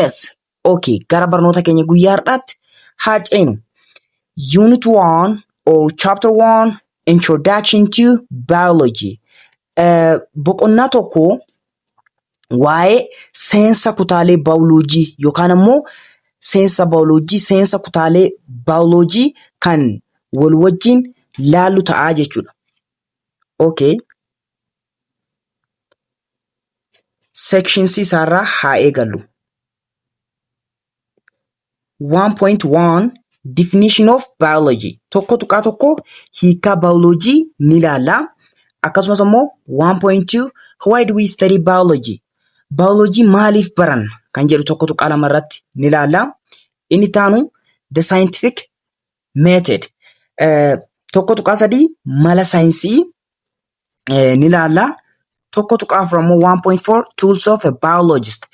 Yes. Okay. Gara barnoota keenya guyyaa har'aatti haa ceenu. Unit 1 or chapter 1 introduction to biology. Eh, Boqonnaa tokko waa'ee seensa kutaalee baayoloojii yookaan ammoo seensa baayoloojii seensa kutaalee baayoloojii kan wal wajjin laallu ta'a jechuudha. Okay. seekshinsii isaarraa haa eegallu. 1.1 Definition of Biology tokko tuqaa tokko hiikaa baayoloojii ni ilaalla. Akkasumas immoo 1.2 Why do we study biology? Baayoloojii maaliif baranna kan jedhu tokko tuqaa lama irratti ni ilaalla. Inni itti aanu the scientific method Eh, tokko tuqaa sadii mala saayinsii eh, ni laalla. Tokko tuqaa afur ammoo 1.4 tools of a biologist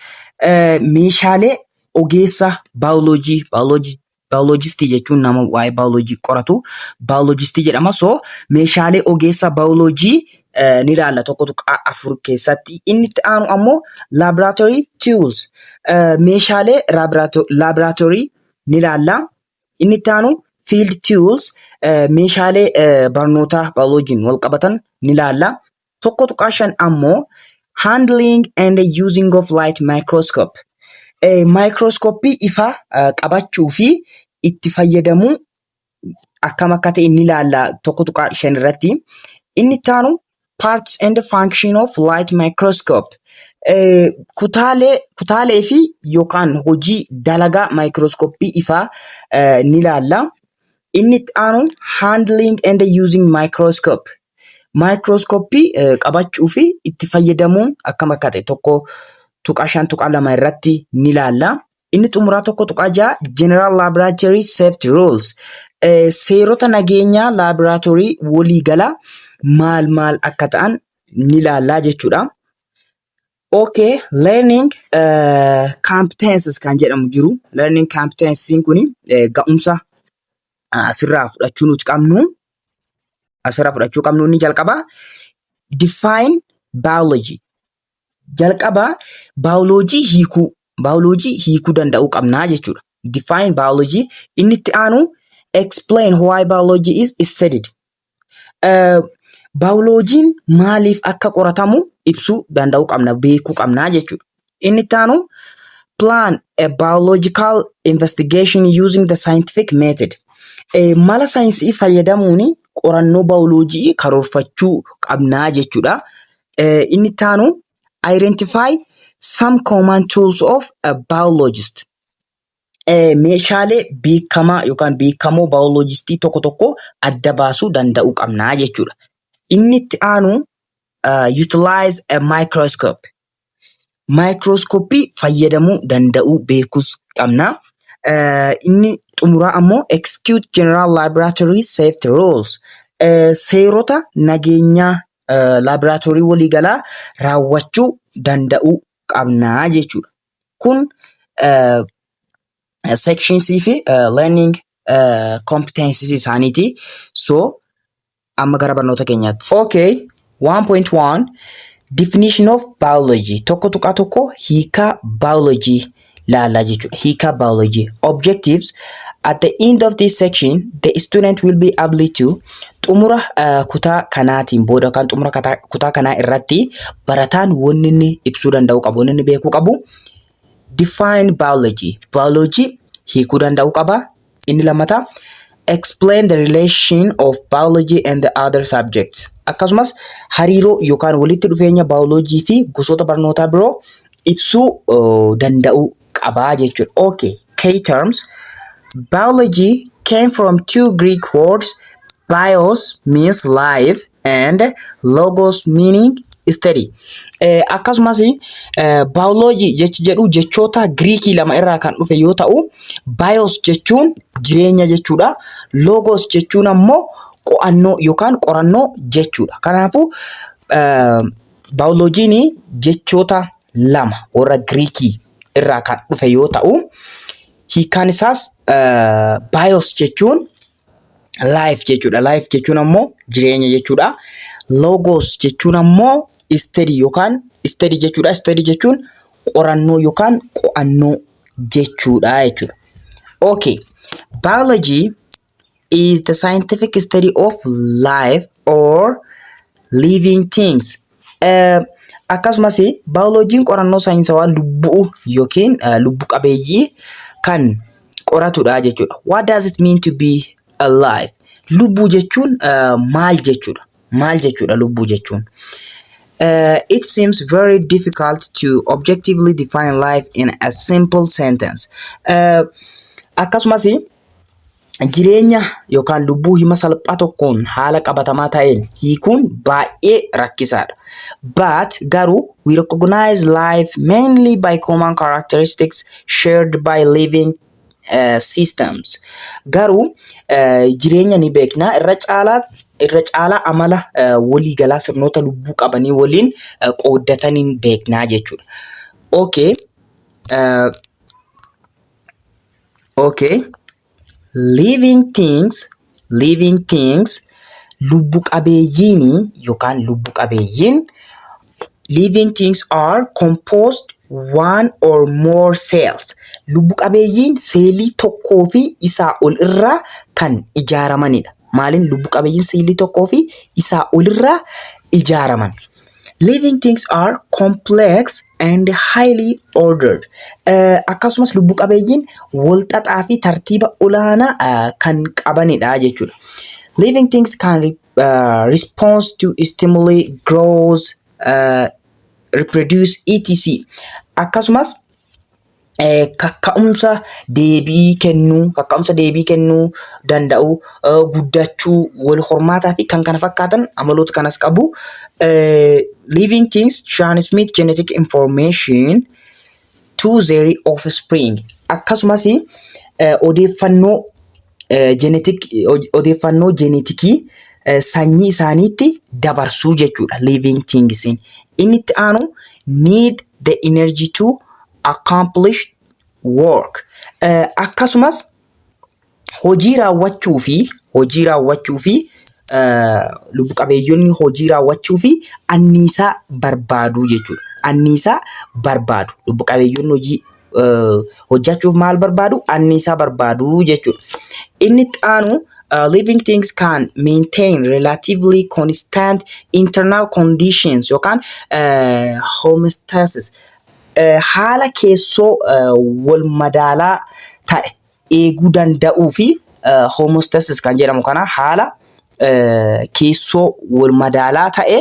Eh, meeshaalee ogeessa baayoloojii baayoloojii baayoloojistii jechuun nama waa'ee baayoloojii qoratu baayoloojistii jedhama. So meeshaalee ogeessa baayoloojii eh, ni laalla tokko tuqaa afur keessatti. Inni itti aanu ammoo laboratory tools eh, meeshaalee laboratory ni laalla. Inni itti aanu field tools meeshaalee barnootaa bioloojiin wal qabatan ni ilaalla. Tokko tuqaa shan ammoo handling and using of light microscope maayikirooskooppii ifaa qabachuu fi itti fayyadamuu akkam akka ta'e ni ilaalla tokko tuqaa shan irratti. Inni itti aanu Parts and Function of Light Microscope Eh, kutaalee kutaalee fi yookaan hojii dalagaa maayikirooskooppii ifaa eh, ni ilaalla. Inni itti aanu handling and using microscope. Maayikirooskooppii eh, qabachuu fi itti fayyadamuun akkam akka ta'e tokko 1.5.2 irratti ni ilaalla. Inni xumuraa 1.6 General Laboratory Safety Rules eh, seerota nageenyaa laaboraatoorii waliigala maal maal akka ta'an ni ilaallaa jechuudha. Okay, learning uh, competences kan jedhamu jiru. Learning competencies kun eh, ga'umsa ah, asirraa fudhachuu nuti qabnu asirraa fudhachuu qabnu inni jalqaba define biology Jalqaba baayoloojii hiikuu, baayoloojii hiikuu danda'uu qabnaa jechuudha. Define biology. Inni itti aanu explain why biology is studied. Eh, Baayoloojiin maaliif akka qoratamu ibsuu danda'uu qabna, beekuu qabnaa jechuudha. Inni itti aanu plan a biological investigation using the scientific method. Eh, Mala saayinsii fayyadamuun qorannoo baayoloojii karoorfachuu qabnaa jechuudha. Eh, Inni itti aanu identify some common tools of a biologist. Eh, Meeshaalee beekamaa yookaan beekamoo baayoloojistii tokko tokko adda baasuu danda'uu qabna jechuudha. Inni itti aanu uh, utilize a microscope. Maayikirooskoppii fayyadamuu danda'uu beekuus qabna. Inni xumuraa ammoo execute general laboratory safety rules seerota nageenyaa laaboraatoorii waliigalaa raawwachuu danda'uu qabna jechuudha. Kun sections fi learning competencies isaaniiti. So Amma gara barnoota keenyaatti. Okay, 1.1 Definition of biology tokko tuqaa tokko hiikaa biology laalaa jechuudha. Hiikaa biology objectives at the end of this section the student will be able to xumura uh, kutaa kanaatiin booda yookaan xumura kata- kutaa kanaa irratti barataan wanni inni ibsuu danda'u qabu wanni inni beekuu qabu define biology biology hiikuu danda'u qaba Inni lammataa explain the relation of biology and the other subjects. Akkasumas hariiroo yookaan walitti dhufeenya baayoloojii fi gosoota barnootaa biroo ibsuu uh, danda'uu qabaa jechuudha. Okay, key terms. Biology came from two Greek words bios means life and logos meaning study Eh, akkasumas biology jechi jedhu jechoota giriikii lama irraa kan dhufe yoo ta'u bios jechuun jireenya jechuudha logos jechuun ammoo qo'annoo yookaan qorannoo jechuudha kanaafuu eh, biology'n jechoota lama warra giriikii irraa kan dhufe yoo ta'u Hiikkaan isaas bios jechuun life jechuudha. Life jechuun ammoo jireenya jechuudha. Logos jechuun ammoo study yookaan study jechuudha. Study jechuun qorannoo yookaan qo'annoo jechuudha jechuudha. Okay. Biology is the scientific study of life or living things. Eh, Akkasumas baayoloojiin qorannoo saayinsawaa lubbuu yookiin eh, lubbu qabeeyyii kan qoratudha jechuudha. What does it mean to be alive? Lubbuu jechuun eh, maal jechuudha? Maal jechuudha lubbuu jechuun? Uh, it seems very difficult to objectively define life in a simple sentence. Uh, akkasumas jireenya yookaan lubbuu hima salphaa tokkoon haala qabatamaa ta'een hiikuun baay'ee rakkisaadha. But garuu we recognize life mainly by common characteristics shared by living uh, systems. Garuu uh, jireenya ni beekna irra caalaa irra caalaa amala uh, waliigalaa sirnoota lubbuu qabanii waliin uh, qooddataniin beeknaa jechuudha. Okay. Uh, Okay. Living things, living things, lubbu qabeeyyiin yookaan lubbu qabeeyyiin living things are composed one or more cells. Lubbu qabeeyyiin seelii tokkoo fi isaa ol irraa kan ijaaramanidha. Maaliin lubbu qabeeyyiin seelii tokkoo fi isaa ol irraa ijaaraman? Living things are complex and highly ordered. Eh, Akkasumas lubbu qabeeyyiin walxaxaa fi tartiiba olaanaa eh, kan qabanidha jechuudha. Living things can re- eh, respond to stimuli, grows, eh, reproduce, etc. Akkasumas eh, kakka'umsa deebii kennuu kakka'umsa deebii kennuu danda'u eh, guddachuu wal hormaataa fi kan kana fakkaatan amaloota kanas qabu eh, living things transmit genetic information to their offspring akkasumas eh, odeeffannoo eh, genetic odeeffannoo jenetikii eh, sanyii isaaniitti dabarsuu jechuudha living thingsiin inni itti aanu need the energy to accomplish work Eh, akkasumas hojii raawwachuu fi hojii raawwachuu fi eh, lubbu qabeeyyonni hojii raawwachuu fi anniisaa barbaadu jechuudha. Anniisaa barbaadu lubbu qabeeyyonni hojii hojjachuuf maal barbaadu? Anniisaa barbaadu jechuudha. Inni itti aanu uh, living things can maintain relatively constant internal conditions yookaan uh, homeostasis uh, haala keessoo uh, wal madaalaa ta'e eeguu danda'uu fi homostasis kan jedhamu kana haala keessoo wal madaalaa ta'e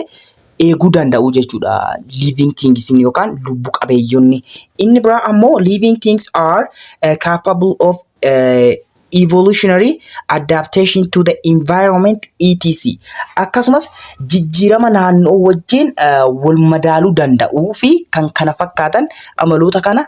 eeguu danda'uu jechuudha. Living things yookaan lubbu qabeeyyonni. Inni biraa ammoo living things are uh, capable of uh, evolutionary adaptation to the environment etc. Akkasumas jijjiirama naannoo wajjin uh, wal madaaluu danda'uu fi kan kana fakkaatan amaloota kana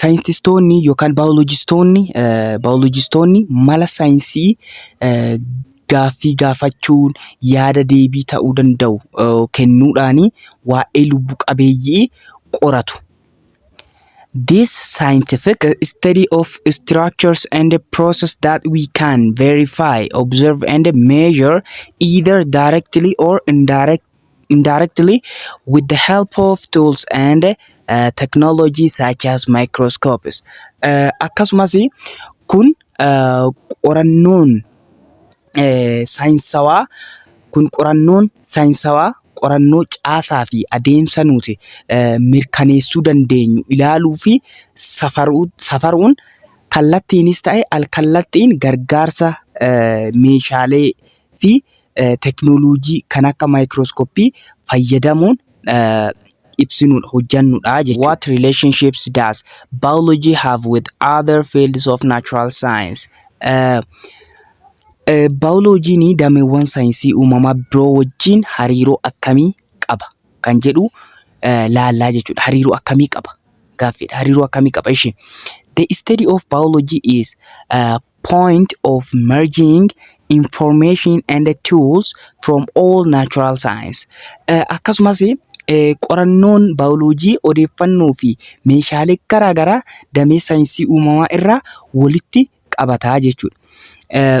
Saayintistoonni yookaan baayolojistoonni mala saayinsii gaaffii gaafachuun yaada deebii ta'uu danda'u kennuudhaan waa'ee lubbu qabeeyyii qoratu. This scientific study of structures and process that we can verify, observe and measure either directly or indirectly. indirectly with the help of tools and uh, technology such as microscopes. Uh, akkasumas kun uh, qorannoon uh, saayinsawaa kun qorannoon saayinsawaa qorannoo caasaa fi adeemsa nuti uh, mirkaneessuu dandeenyu ilaaluu fi safaruu, safaruun kallattiinis ta'e alkallattiin gargaarsa uh, meeshaalee fi teknolojii kan akka microscopy fayyadamuun ibsinudha, hojjannudha jechuudha. What relationships does biology have with other fields of natural science? Baayoloojiin dameewwan saayinsii uumamaa biroo wajjin hariiroo akkamii qaba kan jedhu laallaa jechuudha. Hariiroo akkamii qaba? Gaaffiidha. Hariiroo akkamii qaba? Ishi. The study of biology is uh, point of merging information and tools from all natural science. Eh, Akkasumas eh, qorannoon baayoloojii odeeffannoo fi meeshaalee garaagaraa damee saayinsii uumamaa irraa walitti qabataa jechuudha. Eh,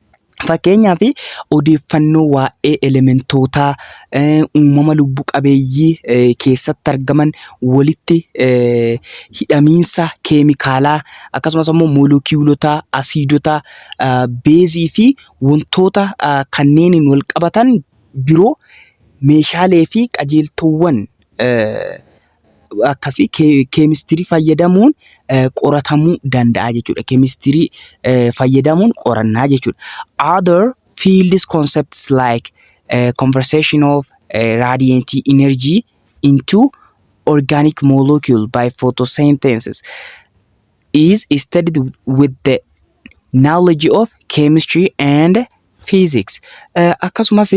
Fakkeenyaaf odeeffannoo waa'ee elementootaa, uumama lubbu qabeeyyii keessatti argaman, walitti hidhamiinsa keemikaalaa akkasumas immoo molekiyuulota, asiidota, beezii fi wantoota kanneeniin wal qabatan biroo meeshaalee fi qajeeltoowwan.... akkasii keemistirii fayyadamuun qoratamuu danda'a jechuudha. Keemistirii fayyadamuun qorannaa jechuudha. Other fields concepts like uh, conversation of uh, radiant energy into organic molecule by photosynthesis is studied with the knowledge of chemistry and physics. Eh, Akkasumas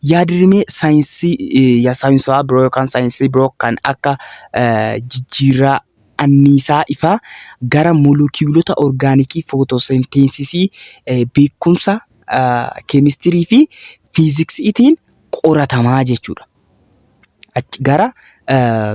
yaadrimee saayinsii eh, ya- saayinsaawaa biroo yookaan saayinsii biroo kan akka eh, jijjiirraa anniisaa ifaa gara molekiyuulota orgaanikii footoosenteensisii eh, beekumsa ah, keemistirii fi fiiziksiitiin qoratamaa jechuudha. Achi gara eh,